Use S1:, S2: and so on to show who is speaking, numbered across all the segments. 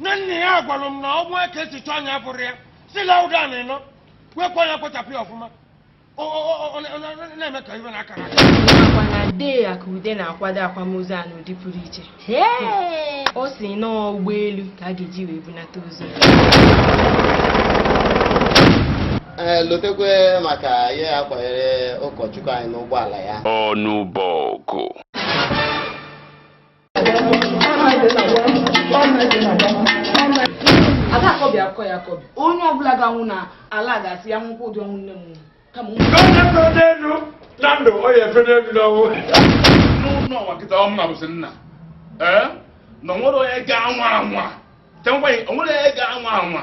S1: na nna ya gwara m na ọ nwa ka esi chọọ anya bụrụ ya si lauda na ịnọ kwekwa ya kpochapụ ya ọfụma na Emeka Ibe na akara nakwa na dee
S2: akụude na-akwado akwamozu a n'ụdị pụrụ iche ọ sị na ọ ụgbọelu ka a ga-eji wee bunata ozu
S3: ee lotekwe maka ihe ya kwanyere ụkọchukwu anyị n'ụgbọala ya Ọnụbọgụ
S4: ada akọbi akọ ya akọbi onye ọbụla ga-anwụ na ala ga-asị ya nwụkwọ ụdị ọnwụ nne m nwụrụ kama ụmụ Onye fere n'elu
S1: na ndụ ọ ya-efe n'elu n'ọnwụ. nwa
S5: nkịta ọmụ na bụsị nna ee na onwere onye ga-anwa anwa Ka m gwa gị, onwere onye ga-anwa anwa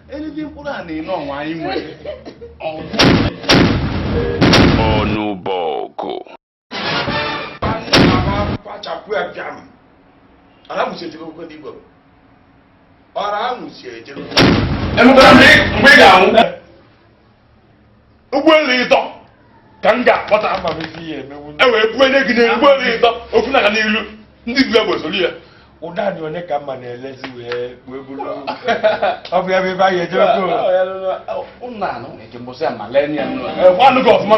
S5: Elili mkpụrụ a na-ene ọnwa anyị
S6: nwere. Ọnụbọgụ.
S1: Kpachapụ ya bịa m. Ara mụsi ejebe okwe ndị Igbo. Ara mụsi ejebe. Emeka
S5: mgbe ị ga-anwụ. ụgbọelu ịtọ ka m ga-akpọta e wee bunye gị n'elu ụgbọelu ịtọ ofu na n'ilu ndị bu egbe soro ya ụda dị onye ka
S1: mma na-elezi wee wee bụrụ ọ bụ ya bụ ebe anyị
S5: ejebe gị ọfụma